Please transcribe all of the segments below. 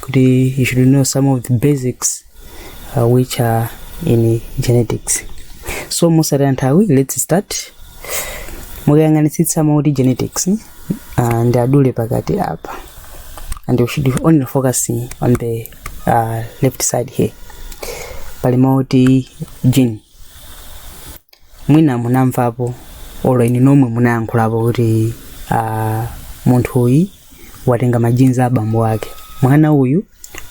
kuti you should know some of the basics uh, which are in genetics so musataya nthawi let's start mukayang'anitsitsa mauti genetics uh, ndi adule pakati apa and you should only focusing on the uh, left side here pali mauti gene mwina munamvapo olo inu nomwe munayankhulapo kuti ah, munthu uyu watenga ma genes a bambo ake mwana uyu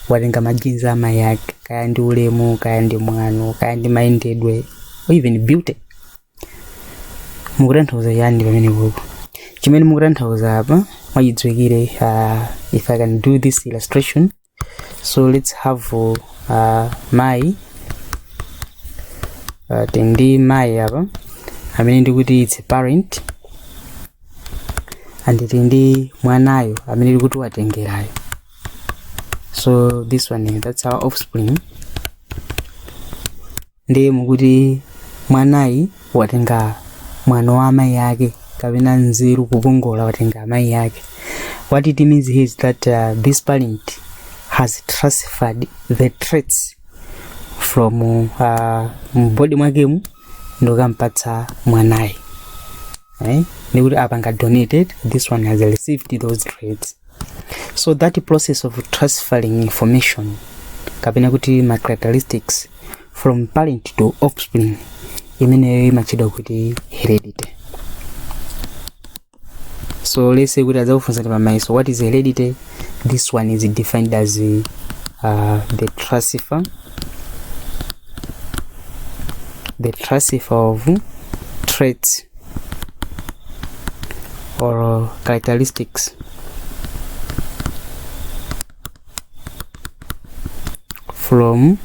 watenga ma genes a mayi ake kaya ndi ulemu kaya ndi mwano kaya ndi mayendedwe or even beauty mukutanthauza chani pamene kuku chimene mukutanthauza apa mwachidziwikire uh, if i can do this illustration so let's have uh, mayi uh, tili ndi mayi apa amene ndikuti its a parent and tili ndi mwanayu amene ndikuti watengerayo so this one that's our offspring ndiye mukuti mwanayi watenga mwano wa amayi ake kapena nzeru kukongola watenga amayi ake what it means here is that uh, this parent has transferred the traits from uh, m'body mwakemu ndikampatsa mwanayi right? ndikuti apanga donated this one has received those traits so that process of transferring information kapena kuti ma characteristics from parent to offspring imeneyo imatchedwa kuti heredity so let's say kuti adzakufunsani pamayeso what is heredity this one is defined as uh, the transfer the transfer of traits or characteristics from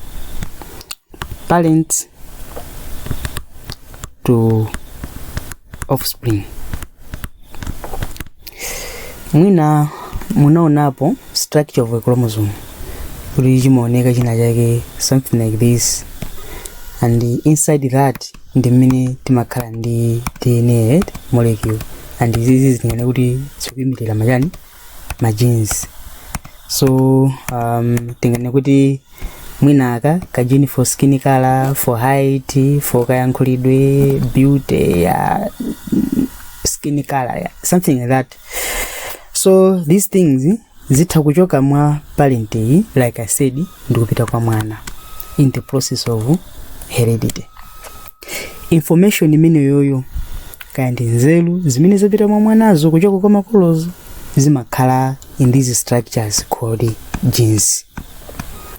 parents to offspring mwina munaonapo structure of a chromosome kuti chimaoneka china chake something like this and inside that ndi m'mene timakhala ndi dna right molecule and izizi tingane kuti zikuimirira machani ma genes so um, tingane kuti mwina aka ka gene for skin color for height for kayankhulidwe beauty ya skin color ya something like that so these things zitha kuchoka mwa parent iyi like i said ndikupita kwa mwana in the process of heredity information imeneyoyo kaya ndi nzeru zimene zapita mwa mwanazo kuchoka kwa makolozo zimakhala in these structures called genes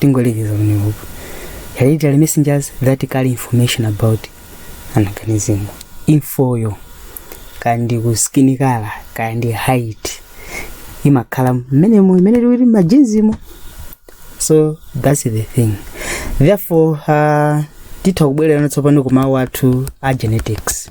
tingolekeza koma iyeyo hereditary messengers that carry information about an organism infoyo kaya ndi skin color kaya ndi height imakhala mmenemo imene tikuti m'majinzimo so that's the thing therefore uh, titha kubwererano tsopano ku mawu athu a genetics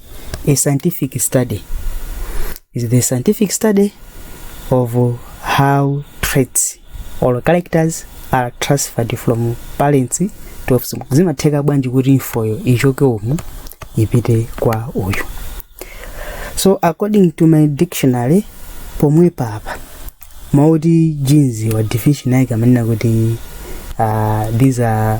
a scientific study is the scientific study of how traits or characters are transferred from parents to offspring zimatheka bwanji kuti infoyo ichoke umu ipite kwa uyu so according to my dictionary pomwe papa mauti genes wa definition yake amanena kuti uh, these are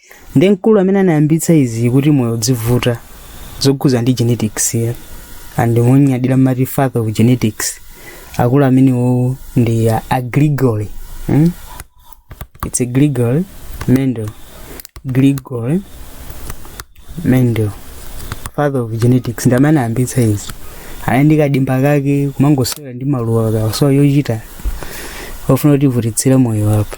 ndi mkulu amene anayambitsa izi kuti moyo udzivuta zokhuza ndi genetics ya and monyadira amati father of genetics akulu amenewo ndi a, a Gregor hmm? it's a Gregor Mendel Gregor Mendel father of genetics ndi amene anayambitsa izi anali ndi kadimba kake kumangosewera ndi maluwa kawasowa yochita ofuna kuti ivutitsire moyo wapo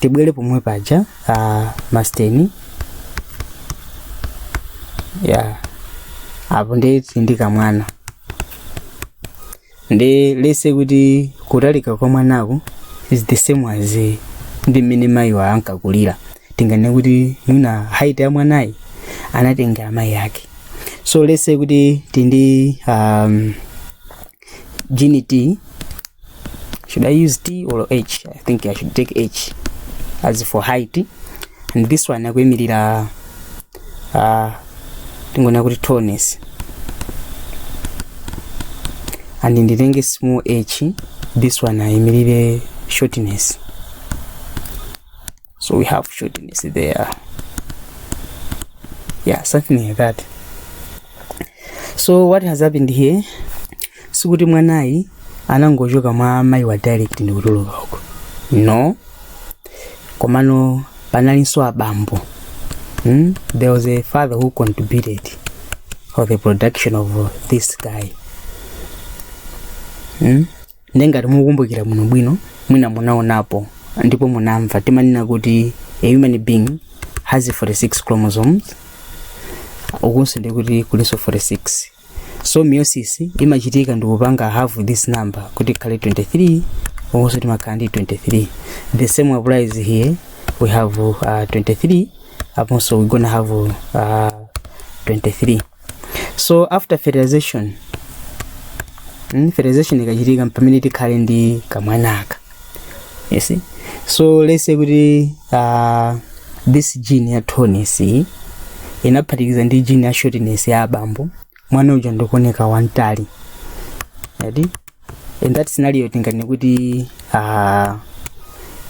tibwere pomwe paja uh, masteni ya apo tili ndi kamwana and let's say kuti kutalika kwa mwanaku is the same as eh, ndi mmene mayiwa ankakulira tinganene kuti mwina height ya mwanayi anatengera mayi ake so let's say kuti tili ndi um, Gene T. Should I use T or H? I think I should take H as for height. And this one akuimirira uh, tingona kuti tallness. And nditenge small h, this one aimirire shortness. so we have shortness there yeah something like that so what has happened here sikuti mwanayi anangochoka mwa mayiwa direct ndikutuluka uko no komano panalinso abambo mm? there was a father who contributed for the production of this guy mm? nde ngati mukukumbukira bwinobwino mwina munaonapo ndipo munamva timanena kuti a human being has 46 chromosomes ukunso ndikuti kulinso 46 so meiosis imachitika ndikupanga half this number kuti ikhale 23 ukunso timakhala ndi 23 the same applies here we have uh, 23 aponso we gonna have uh, 23 so after fertilization mm, fertilization ikachitika pamene tikhale ndi kamwanaka you see so let's say kuti uh, this gene ya tallness iyi inaphatikiza ndi gene ya shortness ya abambo mwana uja ndikuoneka wamtali eti in that scenario tinganene kuti uh,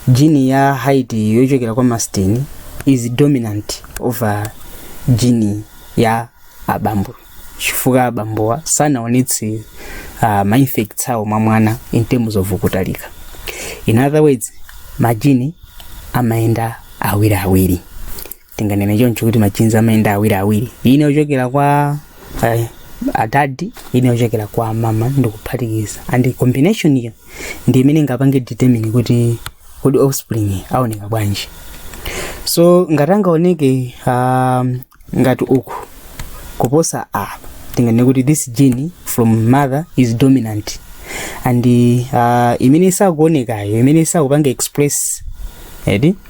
gene ya height yochokera kwa masteni is dominant over gene ya abambo chifukwa abambowa sanaonetse uh, ma effects awo mwa mwana in terms of kutalika in other words majini amayenda awiri awiri tinganene choncho kuti majinzi amayenda awiri awiri ina yochokera kwa eh, adadi ina yochokera kwa amama ndikuphatikiza and combination iyo ndi imene ingapange determine kuti kuti offspring aoneka bwanji so ngati angaoneke um, ngati uku kuposa apa tinganene kuti this gene from mother is dominant and uh, imene isakuonekayo imene isakupanga express edi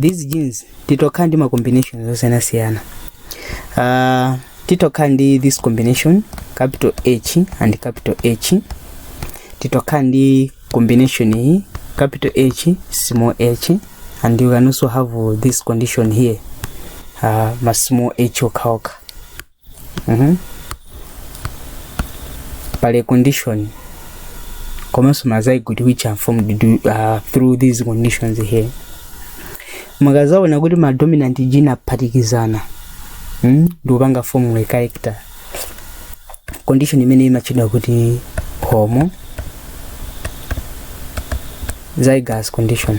these genes titha kukhala ndi ma combinations osiyanasiyana uh, titha kukhala ndi this combination capital h and capital h titha kukhala ndi combination iyi capital h small h and you can also have uh, this condition here uh, ma small h okhaokha Mhm. pali condition komanso ma zygote which are formed du- uh, through these conditions here mukadzaona kuti ma dominant gene aphatikizana mm? ndikupanga form a character condition imeneyi imatchedwa kuti homozygous condition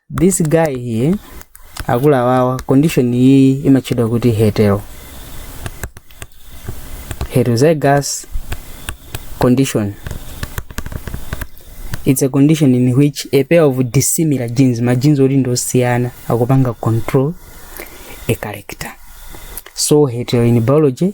this guy here akuluwawa condition iyi imatchedwa kuti hetero heterozygous condition it's a condition in which a pair of dissimilar genes ma genes oti ndi osiyana akupanga control a character so hetero in biology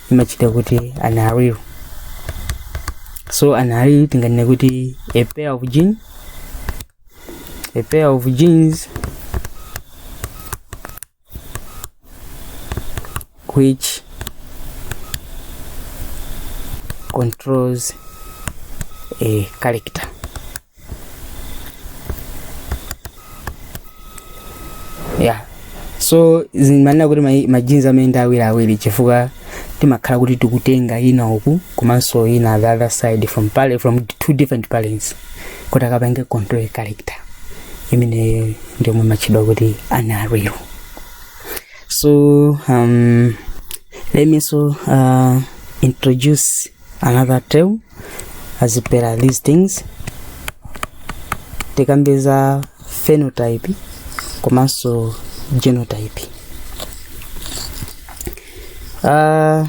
imachita kuti ana awiri so ana awiri tinganene kuti a pair of gene a pair of genes which controls a character yeah so zimanena kuti ma- majinzi amayenda awiri awiri chifukwa timakhala kuti tikutenga ina uku komanso ina the other side from, pare- from two different parents kuti akapange control a character imene ndiyomwe imatchedwa kuti an allele so um, let me also uh, introduce another term as per these things tikambe za phenotype komanso genotype uh,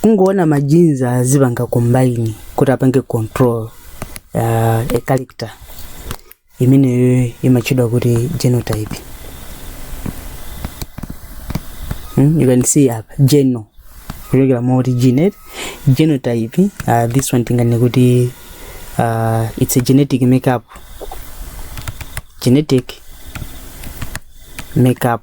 kungoona majinzi azipanga combine kuti apange control uh, a character imeneyo imatchedwa kuti genotype hmm? you can see apa geno kuchokera moti genet genotype uh, this one tingane kuti uh, it's a genetic makeup genetic makeup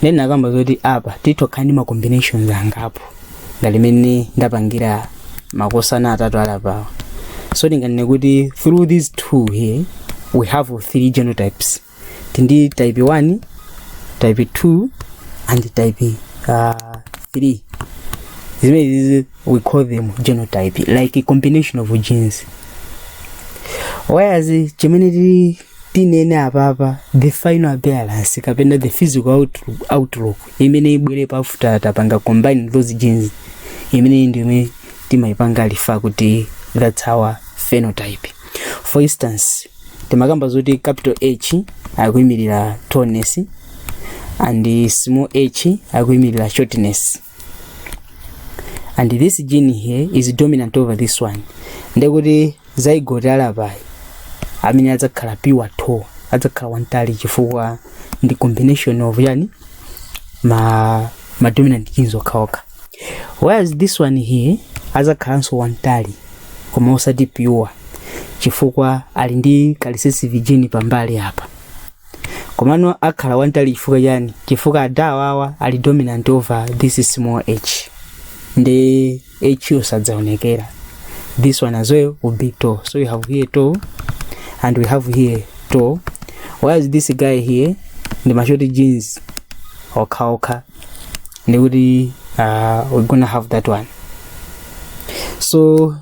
then tinakamba zoti apa titha kukhala ndi ma combinations angapo ngati mene ndapangira makosana atatu alapawa so tinganene kuti through these two here we have three genotypes tili ndi type 1 type 2 and type uh, 3 zimenezi we call them genotype like a combination of genes whereas chimene tili tinene apapa the final appearance kapena the physical outlook imene ibwere pa after tapanga combine those genes imene ndi imene timayipanga refer kuti that's our phenotype for instance tinakamba zoti capital h akuyimirira tallness and small h akuyimirira shortness and this gene here is dominant over this one ndekuti zygote alapayi amene adzakhala pure tall adzakhala wamtali chifukwa ndi combination ya chani ma, ma dominant genes okhaokha whereas this one here adzakhalanso wamtali koma osati pure chifukwa ali ndi ka recessive gene pambali apa komano akhala wamtali chifukwa chani chifukwa adawawa ali dominant over this small h ndiye siyidzaonekera this one as well will be tall so we have here tall and we have here tall whereas this guy here ndi ma short genes okhaokha ndikuti uh, we're gonna have that one so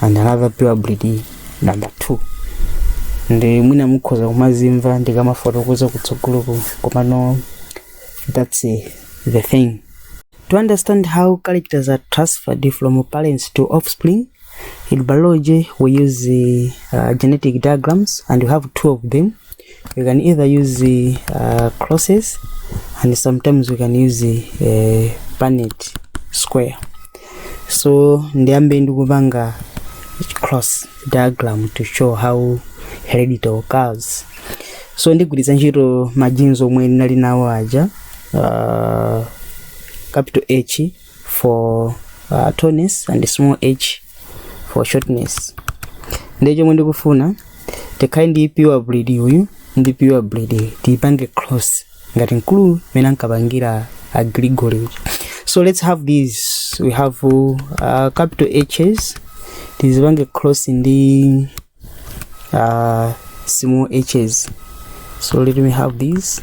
and another probability number two ndi mwina mukhoza kumazimva ndikamafotokoza kutsogoloku komano that's uh, the thing to understand how characters are transferred from parents to offspring in biology we use uh, genetic diagrams and we have two of them You can either use the uh, crosses and sometimes we can use the uh, bayonet square. So ndiyambe ndikupanga cross diagram to show how heredity occurs. So ndigwiritsa ntchito ma genes omwe ndinali nawo aja uh, capital H for uh, tallness and small h for shortness ndiye chomwe ndikufuna tikhale ndi pure breed uyu ndi pure breed tiyipange cross ngati mmene ankapangira a Gregor uja. so let's have these we have uh, capital hs tizipange cross ndi uh, small hs so let me have these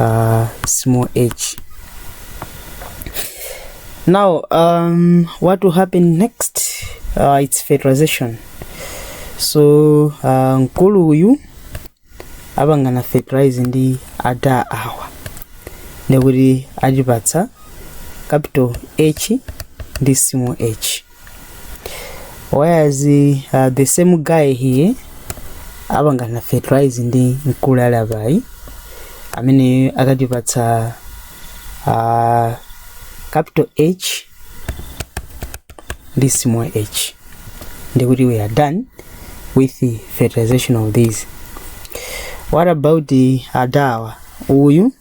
uh, small h now um, what will happen next uh, it's fertilization so uh, mkulu uyu apangana fertilize ndi ada awa ndikuti atipatsa capital h ndi small h whereas uh, the same guy here apangana fertilize ndi mkulu ali apayi amene akatipatsa uh, capital h ndi small h ndikuti we are done with the fertilization of these what about adawa uyu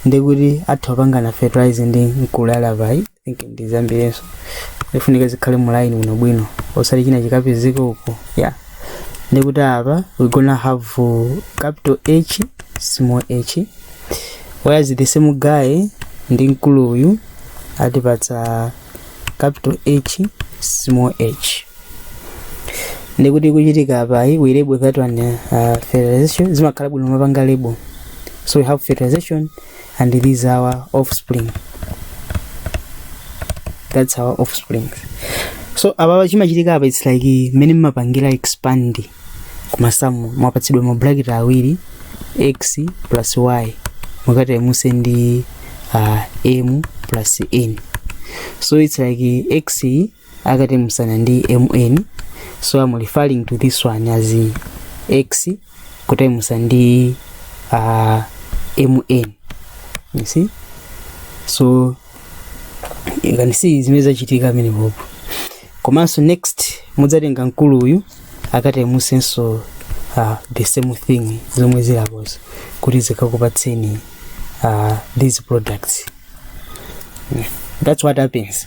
ndikuti atha kupangana fertilize ndi mkulu ali apayi think ndi zabwinonso zifunika zikhale mu line bwinobwino osati china chikapezeka uko yeah ndikuti apa we gonna have uh, capital h small h whereas the same guy ndi mkulu uyu atipatsa capital h small h ndikuti chachitika apachi we label that one uh, fertilization zimakhala bwino kumapanga label so we have fertilization and these are our offspring that's our offspring so apapa chimachitika apa its like mmene mmapangira expand kumasamu mwapatsidwa ma bracket awiri x plus y mukataimuse ndi uh, m plus n so its like x akataimusana ndi mn so i'm referring to this one as x kutaimusa ndi uh, mn you see so you can see zimene zachitika pamenepopo komanso next mudzatenga mkulu uyu akataimusenso uh, the same thing zomwe zili apozo kuti zikakupatseni uh, these products yeah. that's what happens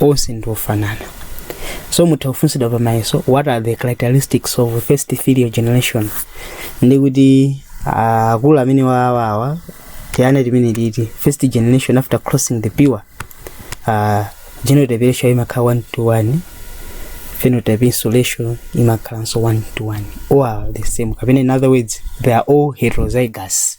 onse ndi ofanana so mutha kufunsidwa pa mayeso what are the characteristics of first filial generation ndi kuti ah, akulu amenewawa tiyeni tinene kuti first generation after crossing the pure uh, genotype ratio imakhala one to one phenotype ratio imakhalanso one to one all are the same kapena in other words they are all heterozygous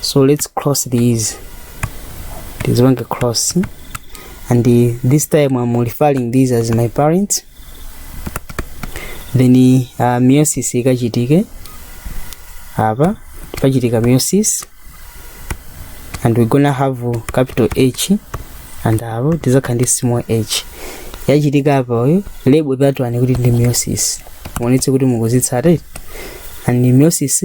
so let's cross these tizipange cross and this time i'm referring these as my parents then uh, meiosis ikachitike apa pachitika meiosis and we're gonna have capital h and apo tizakhala ndi small h yachitika apa uyu label that one kuti ndi meiosis muonetsetse kuti mukuzitsata and meiosis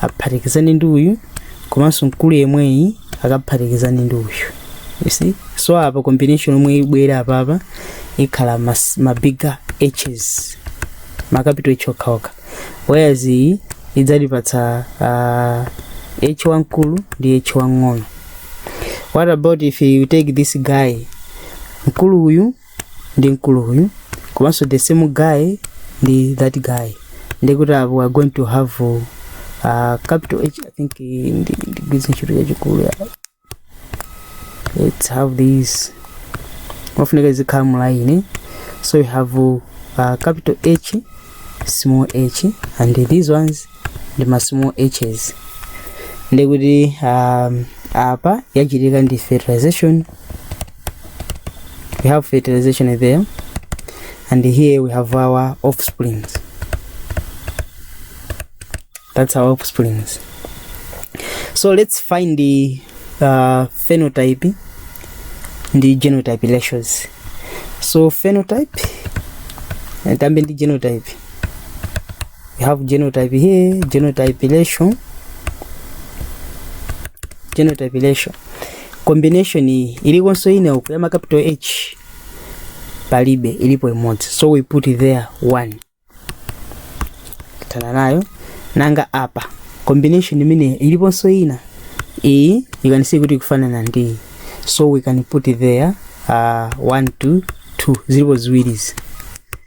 aphatikizane ndi uyu komanso mkulu yemweyi akaphatikizane ndi uyu you see so apa combination yomwe ibwere apapa ikhala mas- ma bigger hs ma capital h okhaokha whereas iyi idzatipatsa uh, h wamkulu ndi h wang'ono what about if you take this guy mkulu uyu ndi mkulu uyu komanso the same guy ndi that guy ndikuti apo we are going to have uh, capital h i think eh, ndi ndi gwiritsa ntchito yachikulu ya let's have this imafunika izikhala mulaini so you have uh, capital h small h and these ones ndi ma small hs ndi kuti um, apa yachitika ndi fertilization we have fertilization there and here we have our offsprings that's our offsprings so let's find the uh, phenotype ndi genotype ratios so phenotype eh, tambe ndi genotype we have genotype here genotype ratio genotype ratio combination iyi ilikonso ine uku ya macapital h palibe ilipo imodzi so we put it there one tana nayo nanga apa combination imene iliponso ina iyi ikanisiye kuti ikufanana ndi iyi so we can put it there uh, one two two zilipo ziwirizi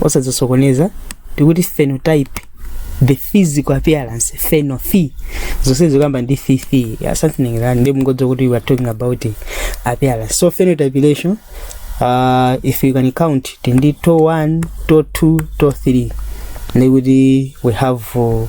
osadzisokoneza tikuti phenotype the physical appearance pheno phy zonse zikuyamba ndi phi phi something like that ndiye mungodziwa kuti we are talking about appearance so phenotype ratio uh, if you can count tili ndi to 1 to 2 to 3 ndikuti we have uh,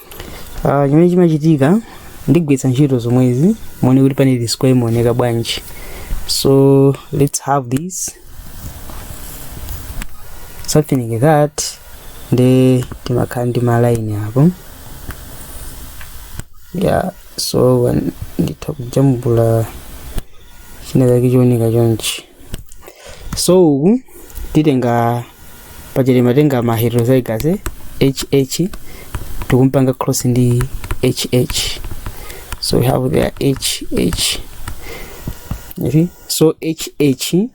Ah, chimene chimachitika ndigwiritsa ntchito zomwezi muone kuti punnet square imaoneka bwanji so let's have this something like that nde timakhala ndi malaini apo yeah so nditha kujambula china chake chioneka chonchi so uku titenga pachete matenga ma heterozygous eh, hh tikumpanga cross ndi hh so we have there hh you see? so hh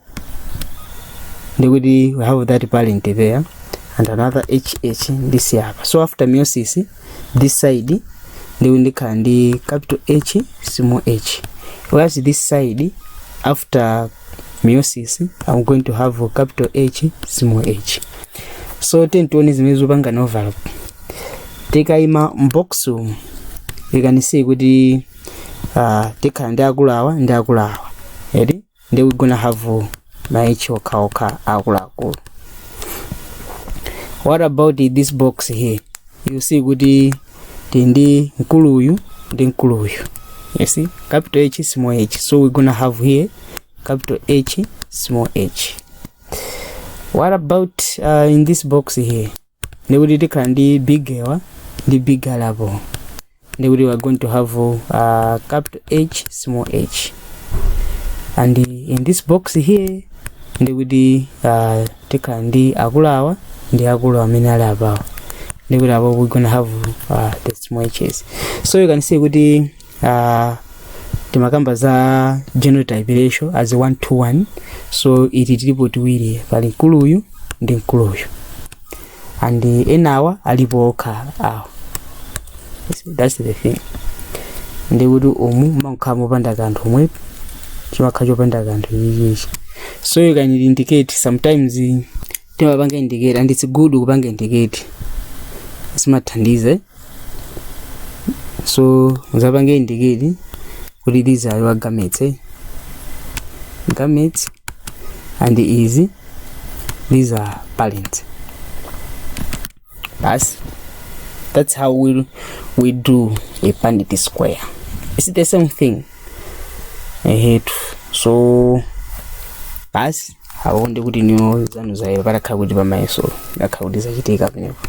ndikuti we have that parent there and another hh this apa so after meiosis this side ndi kuti ndikhala ndi capital h small h whereas this side after meiosis i'm going to have capital h small h so tiyeni tione zimene zipangane overlap tikayima mu box umu you can see kuti uh, tikhala ndi akulu awa ndi akulu awa eti nde we gonna have ma h okhaokha akuluakulu what about this box here you see kuti tili ndi mkulu uyu ndi mkulu uyu you see capital h small h so we gonna have here capital h small h what about uh, in this box here ndi kuti tikhala ndi big awa ndi big ali apo ndi kuti we are going to have uh, capital h small h and in this box here ndi kuti uh, tikhala ndi akulu awa ndi akulu amene ali apawa ndi kuti apo we gonna have uh, the small h's so you can see kuti uh, timakamba za genotype ratio as 1 to 2 to 1 so iti tilipo tiwiri pali mkulu uyu ndi mkulu uyu and enawa alipo okha awa so that's the thing ndikuti umu mumakhala mopanda kanthu umu chimakhala chopanda kanthu ichichi so you can indicate sometimes timapanga indicate and it's good kupanga indicate zimathandiza so uzapange indicate kuti these are your gametes eh? gametes and izi these are parents basi that's how we, we do a bandit square it's the same thing ehetu so basi aonde kuti niwo zanu zayo patakhala kuti pamayeso ngakhala kuti zachitika pamenepo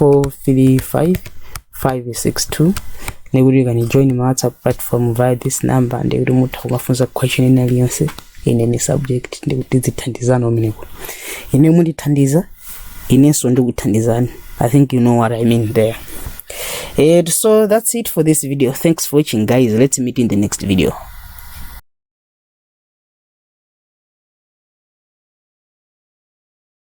435562 ndikuti you can join my whatsapp platform via this number ndikuti mutha kumafunsa question ina iliyonse in any subject ndikuti tizithandizana kumeneko ine mundithandiza inenso ndikuthandizani i think you know what i mean there and so that's it for this video thanks for watching guys let's meet in the next video